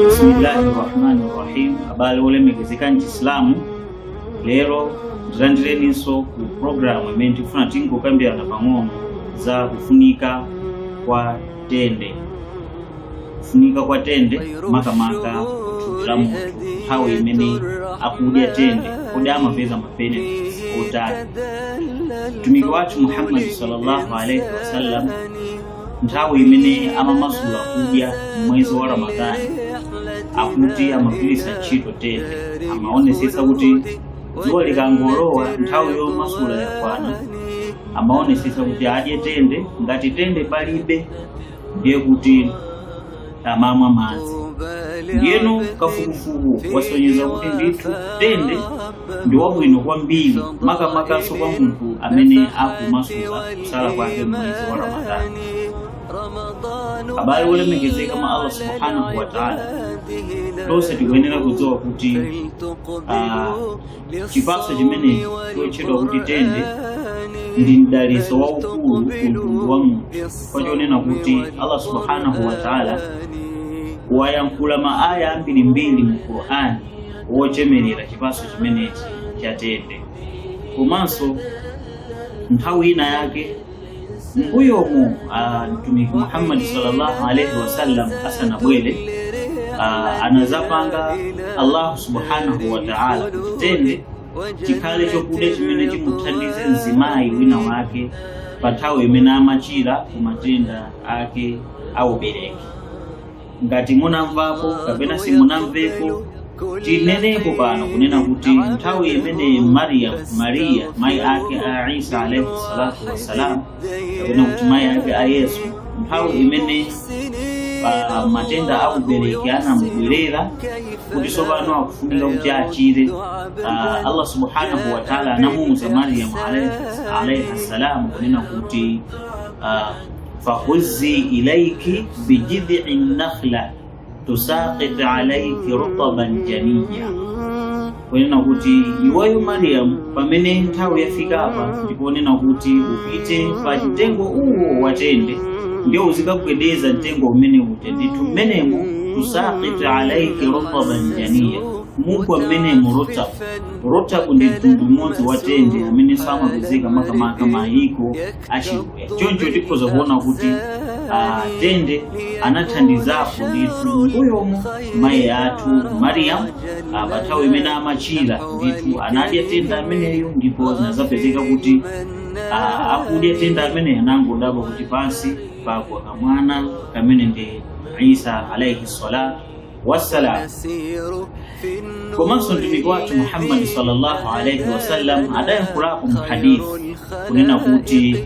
bisimillahi rahmani rahim abale olemekezeka mchisilamu lero tilandireninso ku programu imene tikufuna tingokambirana pang'ono za kufunika kwa tende kufunika kwa tende makamaka kuthupi la munthu nthawi imene akudya tende kodi amapeza mabenefits otani mtumiki wathu muhammadi sallallahu alaihi wasallam nthawi imene amamasula kudya mmwezi wa ramadhani akuti amagwiritsa ntchito tende amaonesesa kuti dzuwa likangolowa nthawi yomasula yakwana amaonesesa kuti adye tende ngati tende palibe ndiye kuti amamwa madzi ndiyeno kafukufuku wasonyeza kuti ndithu tende ndi wabwino kwambiri makamakanso kwa munthu amene akumasuka kusala kwake mmwezi wa ramadani abale olemekezeka mwa allah subhanahu wataala tonse tikuyenera kudziwa kuti ah, Chipatso chimenechi chotchedwa kuti tende ndi mdalitso waukulu ku mtundu wa munthu chifukwa chonena kuti allah subhanahu wa taala wayankhula ma aya ambirimbiri mu qur'ani wochemerera chipatso chimenechi cha tende komanso nthawi ina yake mbuyomu ah, mtumiki muhammad sallallahu alaihi wasallam asanabwere ah, anadzapanga allahu subhanahu wa taala kuti tende chikhale chokudya chimene chimuthandize mzimayi wina wake pa nthawi imene amachira ku matenda ake aubereki ngati munamvako kapena simunamveko tineneko pano kunena kuti nthawi imene mariyamu mariya mayi ake a isa alaihi salatu wassalam kapena kuti mayi ake a yesu nthawi imene pa matenda a ubereki anamubwerera kuti tsopano akufunika kuti achire uh, allah subhanahu wataala anamuuza mariyamu alaihi- alaihi salam kunena kuti uh, fahuzi ilaiki bijidhii nakhla tusaqit alaiki rutaban janiya kunena kuti iweyo mariyamu pamene nthawi yafika apa ndikunena kuti upite pa mtengo uwo watende ndiye uzikagwedeza mtengo umeneu ndithu mmenemo tusaqit alaiki rutaban janiya mugwa mmenemo rutab rutab ndi mtundu umodzi watende amene samapezeka makamaka mayiko achikuya choncho tikhoza kuona kuti ah, tende anathandizapo ndithu mbuyomo mayi athu mariyamu ah, pa nthawi imene amachira ndithu anadya tende ameneyo ndipo zinazapezeka kuti ah, atadya tende ameneyo anangodabwa kuti pansi pagwa kamwana kamene ndi isa alaihi salatu wassalam komanso mtumiki wathu muhammadi sallallahu alaihi wasallam adayankhulapo mu hadithi kunena kuti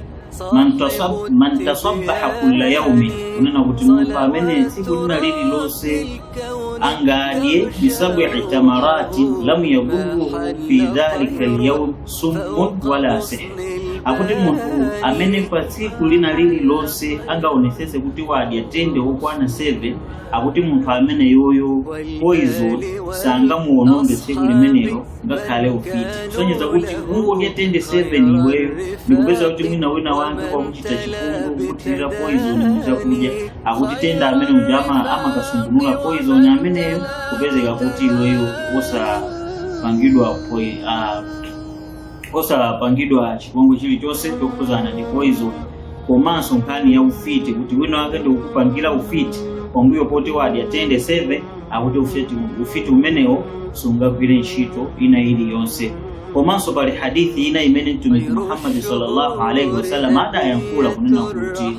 man tasab- man tasabbaha kulla yaumi kunena kuti munthu amene tsiku lina lililonse angadye bisabi tamarati lam yadurruhu fi dhalika lyaum summun wala sihr akuti munthu amene pa tsiku lina lililonse angaonetsetse kuti wadya tende wokwana 7 akuti munthu ameneyoyo poison sangamuononge tsiku limenelo ngakhale ufiti kusonyeza kuti kungodya tende 7 iweyo ndikupezeka kuti mwina wina wake wakuchita chipongwe kukuthirira poison mu chakudya akuti tende amene uja ama- amakasungunula poison ameneyo kupezeka kuti iweyo osapangidwa poi- ah, osapangidwa chipongwe chilichonse chokhudzana ndi poison komanso nkhani ya ufiti kuti wina wake akukupangira ufiti pambuyo poti wadya tende 7 akuti ufiti, ufiti umenewo sungagwire ntchito ina iliyonse komanso pali hadithi ina imene mtumiki muhammadi sallallahu alaihi wasallam adayankhula kunena kuti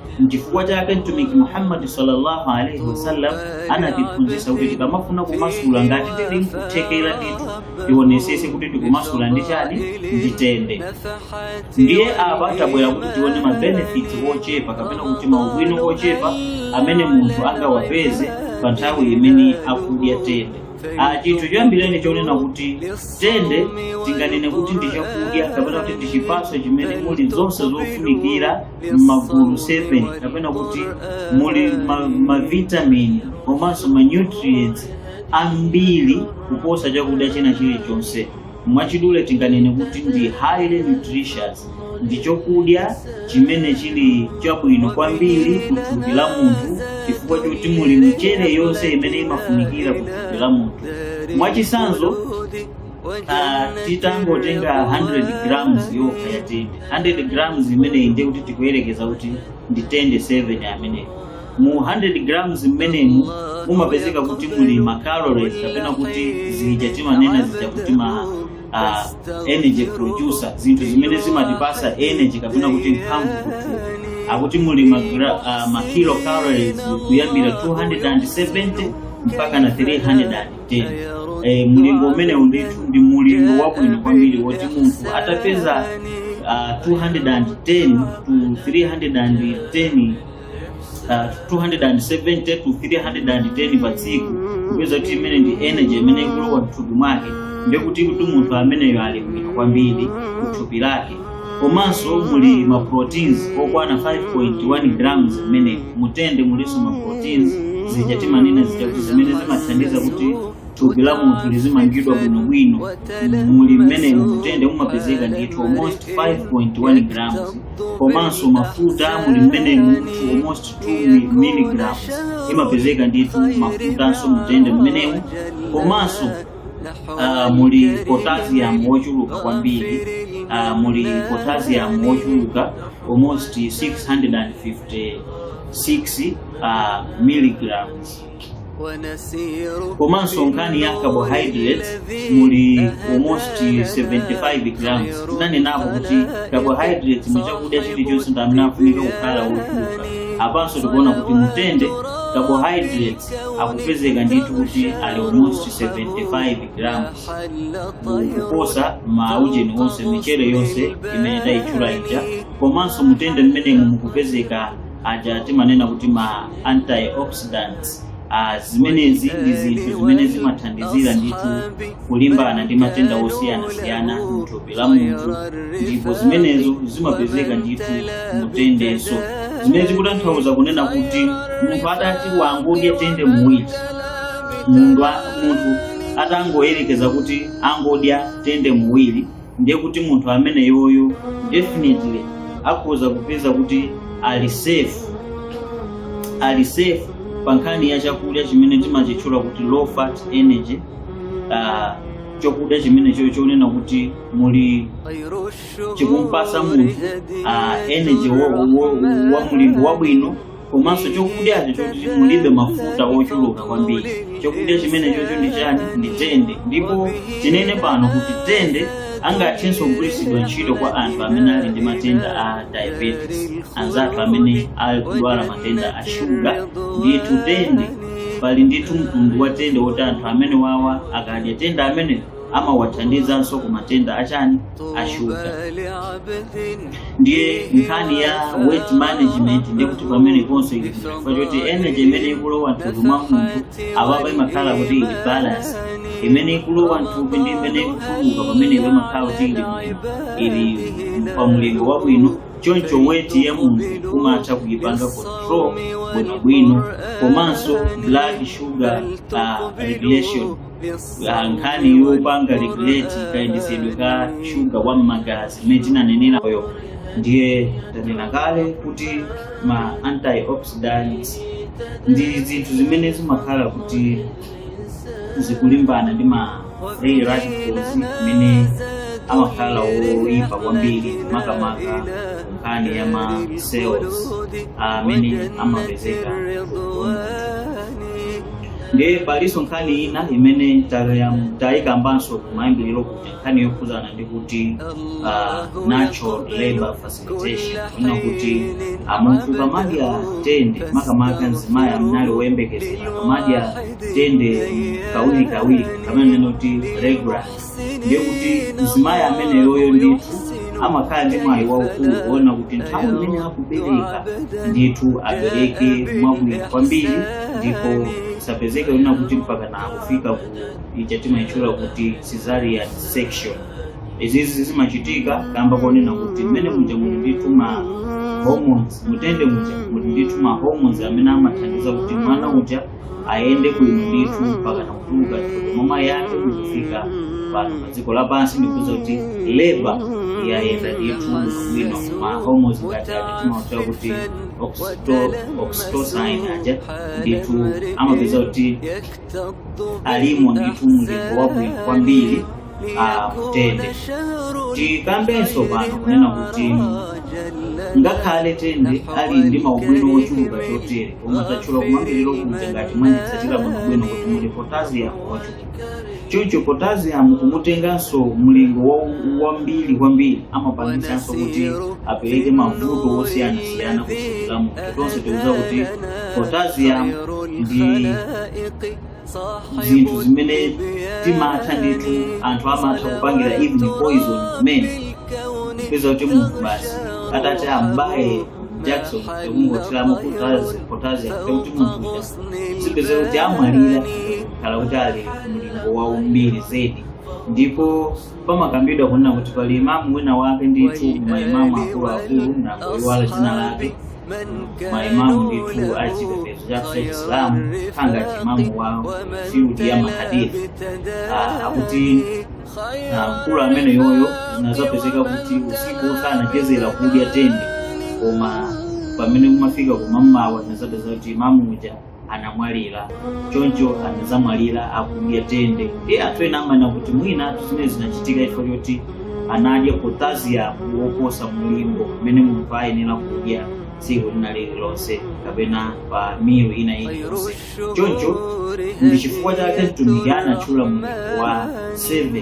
Nchifukwa chake Mtumiki Muhammad sallallahu alaihi wasallam anatiphunzitsa kuti tikamafuna kumasula ngati tili nkuthekera ndithu tionesese kuti tikumasula ndi chani ndi tende. Ndiye apa tabwera kuti tione ma benefits ochepa kapena kuti maubwino ochepa amene munthu angawapeze pa nthawi imene akudya tende. Ah, chinthu choyambireni chonena kuti tende tinganene kuti ndi chakudya kapena kuti ndi chipatso chimene muli zonse zofunikira m'magulu 7 kapena kuti muli ma- mavitamini komanso manutrients ambiri kuposa chakudya china chilichonse mwachidule tinganene kuti ndi highly nutritious ndi chokudya chimene chili chabwino kwambiri ku thupi la munthu chifukwa choti muli michere yonse imene imafunikira ku thupi la munthu mwachitsanzo ah, titangotenga 100 grams yokha ya tende 100 grams imeneyi ndiye kuti tikuyerekeza kuti ndi tende 7 ameneyo mu 100 grams mmenemu mumapezeka kuti muli ma calories kapena kuti zija timanena zija kuti ma uh, energy producer zinthu zimene zimatipasa energy kapena kuti mphamvu kuthupi akuti muli ma, gra- uh, ma kilocalories kuyambira 270 mpaka na 310 eh, mlingo umenewu ndithu ndi mulingo wabwino kwambiri woti munthu atapeza uh, 210 to 310 uh, 270 to 310 pa tsiku kupeza kuti imene ndi energy imene ikulowa mthupi mwake ndiye kuti kuti munthu ameneyo ali bwino kwambiri kuthupi lake komanso muli ma proteins okwana 5.1 grams mmene mutende mulinso ma proteins zija timanena zija kuti zimene zimathandiza kuti thupi la munthu lizimangidwa bwinobwino muli mmene mutende mumapezeka ndithu almost 5.1 grams komanso mafuta muli mmenemu almost 2 milligrams imapezeka ndithu mafutanso mutende mmenemu komanso uh, muli potassium wochuluka kwambiri uh, muli potassium wochuluka almost 656 uh, milligrams komanso nkhani ya carbohydrates muli almost 75 grams tinanenapo kuti carbohydrates mu chakudya chilichonse ndi amene afunika kukhala wochuluka apanso tikuona kuti mtende carbohydrates akupezeka ndithu kuti ali almost 75 grams kuposa maujeni onse michere yonse imene tayitchula ija komanso mutende mmenemu mukupezeka aja timanena kuti ma antioxidants Ah, zimenezi ndi zinthu zimene zimathandizira ndithu kulimbana ndi matenda osiyanasiyana mthupi la munthu ndipo zimenezo zimapezeka ndithu mutendenso zimene zikutanthauza kunena kuti munthu atati wangodya tende muwiri munthu a- munthu atangoyerekeza kuti angodya tende muwiri ndiye kuti munthu ameneyoyo definitely akhoza kupeza kuti ali safe ali safe pa nkhani ya chakudya chimene timachitchula kuti low fat energy uh, chakudya chimenecho chonena kuti muli chikumpasa munthu uh, energy wa, wa, wa mlingo wabwino komanso chokudyacho choti mulibe mafuta ochuluka kwambiri chokudya chimenechocho ndi chani ndi tende ndipo tinene pano kuti tende angathenso kugwiritsidwa ntchito kwa anthu amene ali ndi matenda a diabetes anzathu amene ali kudwala matenda a shuga ndithu tende pali ndithu mtundu wa tende woti anthu amenewawa akadya tende amene amawathandizanso ku matenda achani ashuga ndiye nkhani ya weight management ndiye kuti pameneponso ili chifukwa choti energy imene ikulowa mthupi mwa munthu apapa imakhala kuti ili balance imene ikulowa mthupi ndi imene ikutuluka pamenepo imakhala kuti ili ili pa mlingo wabwino choncho weight ya munthu kumatha kuyipanga control bwinobwino komanso blood sugar uh, regulation Ah, nkhani yopanga regulate kayendetsedwe ka shuga wa m'magazi imene tinanenerayo ndiye tanena kale kuti ma antioxidants ndi zinthu zimene zimakhala kuti zikulimbana ndi ma free radicals amene amakhala oyipa kwambiri makamaka nkhani ya ma cells amene amapezeka Ndiye palinso nkhani ina imene tayam- tayikambanso kumayambiriro kuti nkhani yokhudzana ndi kuti ah, natural labor facilitation kunena kuti ah, munthu akamadya tende makamaka mzimayi amene ali woyembekezera akamadya tende kawiri kawiri kamene kunena kuti regular ndiye kuti mzimayi ameneyoyo ndithu amakhala ndi mwayi waukulu kunena kuti nthawi imene akubereka ndithu abereke mwabwino kwambiri ndipo asapezeke kunena kuti mpaka nakufika ku ija timaitchula kuti cesarean section izizi zimachitika kamba konena kuti mmene muja muli ndithu ma hormones mutende muja muli ndithu ma hormones amene amathandiza kuti mwana uja ayende bwino ndithu mpaka nakutuluka mwa mayi ake kufika pano pa dziko lapansi ndikupeza kuti labor yayenda ndithu bwino ma hormones ngati ake timautchula kuti oxyto- oxytocin aja ndithu amapezeka kuti alimo ndithu mlingo wabwino kwambiri mutende tikambenso pano kunena kuti ngakhale tende ali ndi maubwino ochuluka chotere koma tatchula kumayambiriro kuja ngati mwanditsatira bwinobwino kuti muli potassium ochuluka choncho potassium kumutenganso mlingo wa- wambiri kwambiri amapangitsanso kuti apereke mavuto osiyanasiyana kwa munthu tonse tikudziwa kuti potassium ndi zinthu zimene timatha ndithu anthu amatha kupangira even poison mwina kupeza kuti munthu basi atati ambaye jakisoni n'kungothiramo potassium potassium kuti munthu uja n'kupezeka kuti amwalira akakhala kuti ali mlingo wambiri zedi ndipo pamakambidwa kunena kuti pali imamu wina wake ndithu maimamu akuluakulu ndangoiwala dzina lake maimamu ndithu a chipembedzo chathu cha chisilamu ngati imamu wa field ya mahadithi Ah, akuti ah, mkulu ameneyoyo zinazapezeka kuti usiku wonse anachezera kudya tende koma pamene kumafika kumamawa zinazapezeka kuti imamu uja anamwalira choncho anazamwalira akudya tende ndi anthu ena amanena kuti mwina zimene zinachitika chifukwa choti anadya potassium woposa mlingo umene munthu ayenera kudya tsiku lina lililonse kapena pa meal ina iliyonse choncho ndi chifukwa chake mtumiki anatchula mlingo wa 7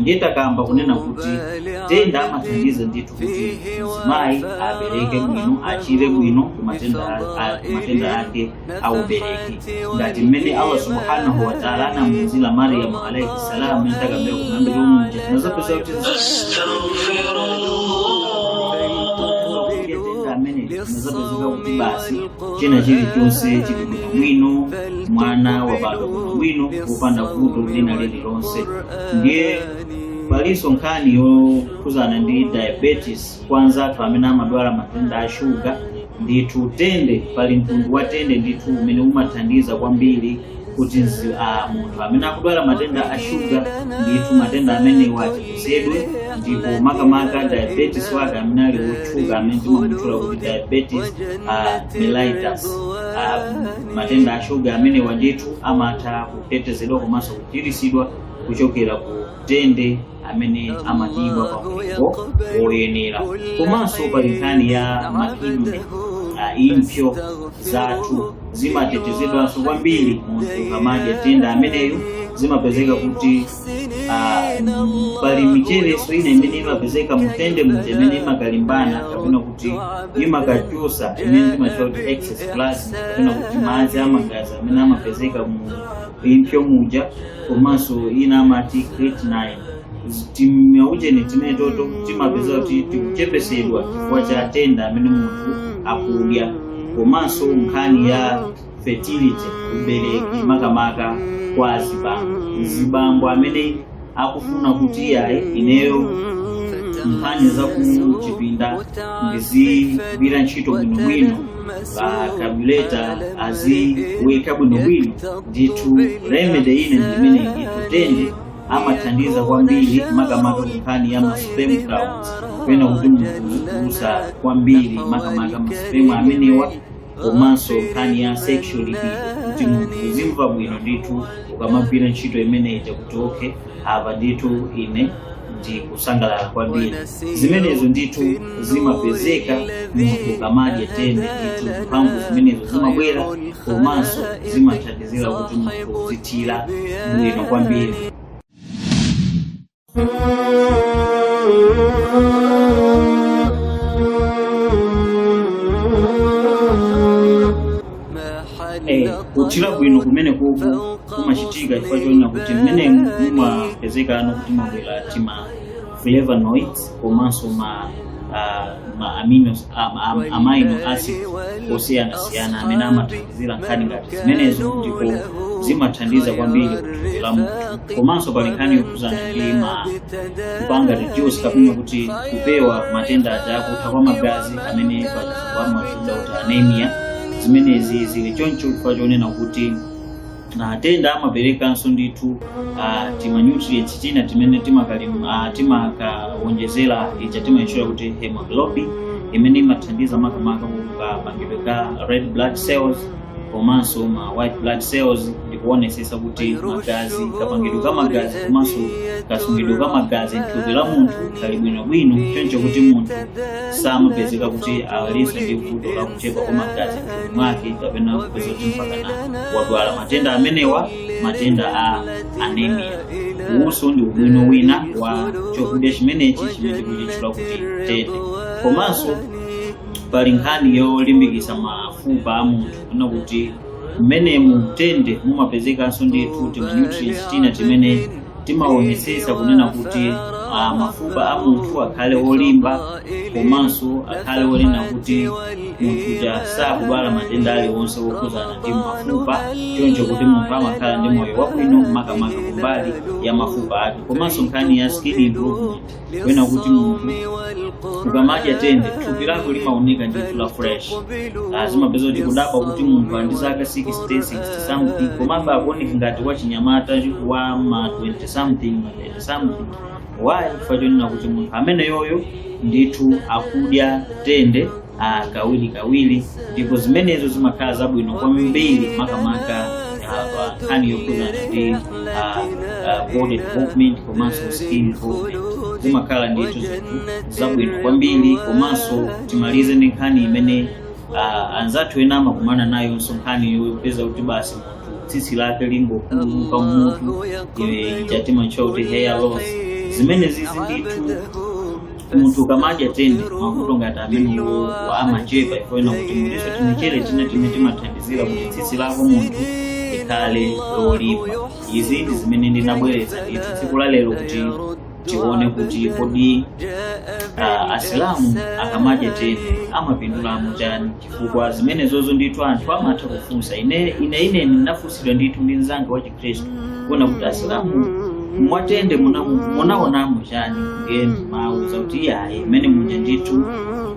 ndiye takamba kunena kuti tende amathandiza ndithu kuti mzimayi abereke bwino achire bwino ku matenda a- a- ku matenda ake aubereki ngati mmene allah subhanahu wataala anamuuzira mariyamu alaihi salam mmene takambira kumayambiriro muja tinazapeza kuti tende amene zinazapezeka kuti basi china chilichonse chili bwino bwino mwana wabadwa bwino bwino popanda vuto lina lililonse ndiye palinso nkhani yokhuzana ndi diabetes kwa anzathu amene amadwala matenda a shuga ndithu tende pali mtundu wa tende ndithu umene umathandiza kwambiri kuti munthu amene akudwala matenda a shuga ndithu matenda amenewa achepetsedwe ndipo makamaka diabetes wake amene ali wotchuka amene timamutchula kuti diabetes uh, mellitus uh, matenda a shuga amenewa ndithu amatha kutetezedwa komanso kuchiritsidwa kuchokera ku tende amene amadyedwa pa mlingo woyenera komanso pali nkhani ya ma kidney impsyo zathu zimatetezedwanso kwambiri munthu ukamadya tende ameneyo zimapezeka kuti ah, mm, pali micherenso ina imene imapezeka mutende muja imene imakalimbana kapena kuti imakachotsa imene timatchula kuti excess plasma kapena kuti madzi amagazi amene amapezeka mu impsyo muja komanso ina amati creatinine Zi- timaujeni timenetoto timapeza kuti tikuchepetsedwa chifukwa cha tende amene munthu akudya komanso nkhani ya fertility ubereki makamaka kwa azibambo mzibambo amene akufuna kuti iyayi ineyo nkhani za kuchipinda ndizigwira ntchito bwinobwino pa kabuleta aziuweka bwinobwino ndithu remedy ina ndi imeneyi tende amathandiza kwambiri makamaka kunkhani ya ma sperm counts kapena kuti munthu kuusa kwambiri makamaka ma sperm amenewa komanso nkhani ya sexual libido kuti munthu uzimva bwino ndithu ukamagwira ntchito imene ija kuti okay apa ndithu ine ndikusangalala kwambiri zimenezo ndithu zimapezeka munthu ukamadya tende ndithu mphamvu zimenezo zimabwera komanso zimathandizira kuti munthu uzithira bwino kwambiri Eh, kuthira bwino kumene kuku kumachitika chifukwa chonena kuti mmene mumapezekano kuti mumabwera tima flavonoids komanso ma ah, ma amino ah, ma- ma amino acid osiyanasiyana amene amathandizira nkhani ngati zimenezo ndipo zimathandiza kwambiri kuthupi la munthu komanso pali nkhani yokhudzana ndi ma kupanga reduce kapena kuti kupewa matenda aja akutha kwa magazi amene pachizungu amatchedwa kuti anemia zimenezi zili choncho chifukwa chonena kuti tende amaperekanso ndithu ah, tima nutrients tina timene timakalim- ah, timakawonjezera ija timaitchula kuti hemoglobin imene imathandiza makamaka kapangidwe ka red blood cells komanso ma white blood cells ndikuonesesa kuti magazi kapangidwe ka magazi komanso kasungidwe ka magazi mthupi la munthu kali bwinobwino choncho kuti munthu samapezeka kuti alinso ndi vuto la kuchepa kwa magazi mthupi mwake kapena kupeza kuti mpakana wadwala matenda amenewa matenda a anemia uwunso ndi ubwino wina wa chakudya chimenechi chimene tikuchitchula kuti tende komanso pali nkhani yolimbikitsa mafupa a munthu kunena kuti mmene mu tende mumapezekanso ndithu timanutrients tina timene timaonetsetsa kunena kuti ah, mafupa a munthu akhale olimba komanso akhale onena kuti munthu uja sakudwala matenda aliwonse okhudzana ndi mafupa choncho kuti munthu amakhala ndi moyo wabwino makamaka kumbali ya mafupa ake komanso nkhani ya skin improvement kunena kuti munthu ukamadya tende thupi lako limaoneka ndithu la fresh zimapezeka kuti kudabwa kuti munthu ali ndi zaka 66 something komabe akuoneka ngati wachinyamata wa ma 20 something ma 30 something why chifukwa chonena kuti munthu ameneyoyo ndithu akudya tende ah, kawiri kawiri ndipo zimenezo zimakhala zabwino kwambiri makamaka ah, pa nkhani yokhudzana ndi ah, ah, body development komanso skin development zimakhala ndithu zinthu zabwino kwambiri komanso timalize ndi nkhani imene ah, anzathu ena amakumana nayonso nkhani yopeza kuti basi munthu tsitsi lake likungothothoka mutu ija timaitcha kuti hair loss zimene zizi ndithu munthu ukamadya tende mavuto ngati amenewa amachepa kunena kuti muliso timichere tina timene timathandizira kuti tsitsi lako munthu likhale lolimba izi ndi zimene ndinabweretsa ndithu tsiku la lero kuti tione kuti kodi ah, asilamu akamadya tende amapindulamo chani chifukwa zimenezozo ndithu anthu amatha kufunsa ine ine ine ndinafunsidwa ndithu ndi mzanga wachi khristu kunena kuti asilamu mwatende muna- munaonamo chani nde ndinamuuza kuti iyayi ife tende uja ndithu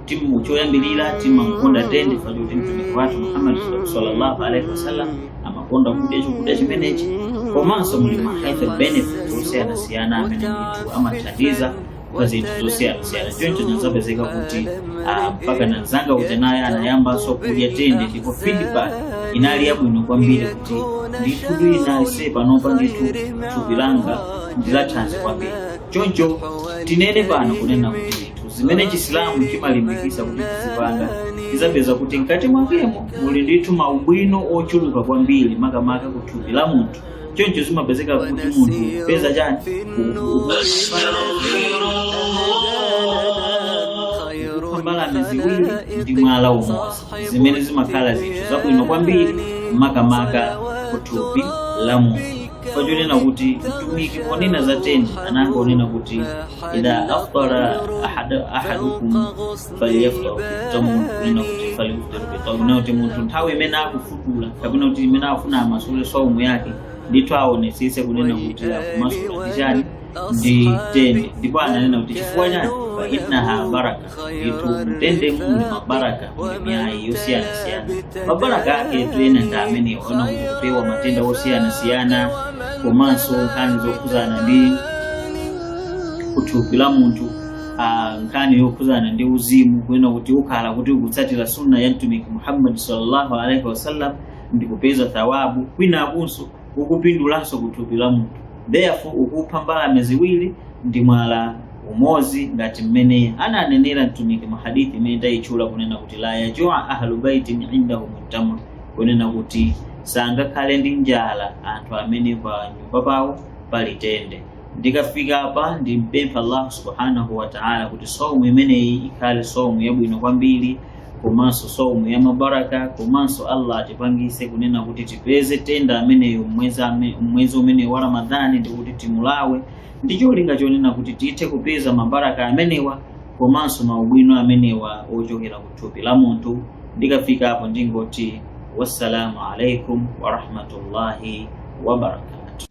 timu- choyambirira timamukonda tende chifukwa choti mtumiki wathu muhammadi sallallahu alaihi wasallam amakonda kudya chakudya chimenechi komanso muli ma health benefits osiyanasiyana amene ndithu amathandiza pa zinthu zosiyanasiyana choncho zinazapezeka kuti ah, mpaka mzanga uja naye anayambanso kudya tende ndipo feedback inali yabwino kwambiri kuti ndithu ndili nice panopa ndithu thupi langa ndilathanzi kwambiri choncho tinene pano kunena kuti ndithu zimene chisilamu chimalimbikisa kuti tizipanga tidzapeza kuti mkati mwakemo muli ndithu maubwino ochuluka kwambiri makamaka ku thupi la munthu choncho zimapezeka kuti munthu ukupeza chani kupha mbalame ziwiri ndi mwala umodzi zimene zimakhala zinthu zabwino kwambiri makamaka kuthupi la munthu chonena kuti mtumiki ponena za tende anangonena kuti idha aftara ahada- ahadukum falyuftir ala tamrin kunena kuti falyuftir kunena kuti munthu nthawi imene akufutula kapena kuti imene afuna amasule saumu yake ndithu aonesese kunena kuti akumasula ndi chani ndi tende ndipo ananena kuti chifukwa chani fa innaha baraka ndithu mtende muli mabaraka ndi miayi yosiyanasiyana mabaraka ake ena ndi amenewo kunena kuti kupewa matenda osiyanasiyana komanso nkhani zokhudzana ndi kuthupi la munthu ah, nkhani yokhudzana ndi uzimu kunena kuti ukhala kuti ukutsatira sunna ya mtumiki muhammadi sallallahu alaihi wasallam ndi kupeza thawabu kwinakunso ukupindulanso ku thupi la munthu therefore ukupha mbalame ziwiri ndi mwala umodzi ngati mmene ananenera mtumiki mu hadithi imene tayitchula kunena kuti la yajua ahlu baitin indahumu tamr kunena kuti sangakhale ndi njala anthu amene pa nyumba pawo pali tende ndikafika apa ndimpempha allah subhanahu wa ta'ala kuti saumu imeneyi ikhale saumu yabwino kwambiri komanso saumu ya mabaraka komanso allah atipangise kunena kuti tipeze tende ameneyo mmwezi ame- mmwezi umeneyo wa ramadhani ndikuti timulawe ndi cholinga chonena kuti tithe kupeza mabaraka amenewa komanso maubwino amenewa ochokera ku thupi la munthu ndikafika apo ndingoti wassalamu alaikum warahmatullahi wabarakatu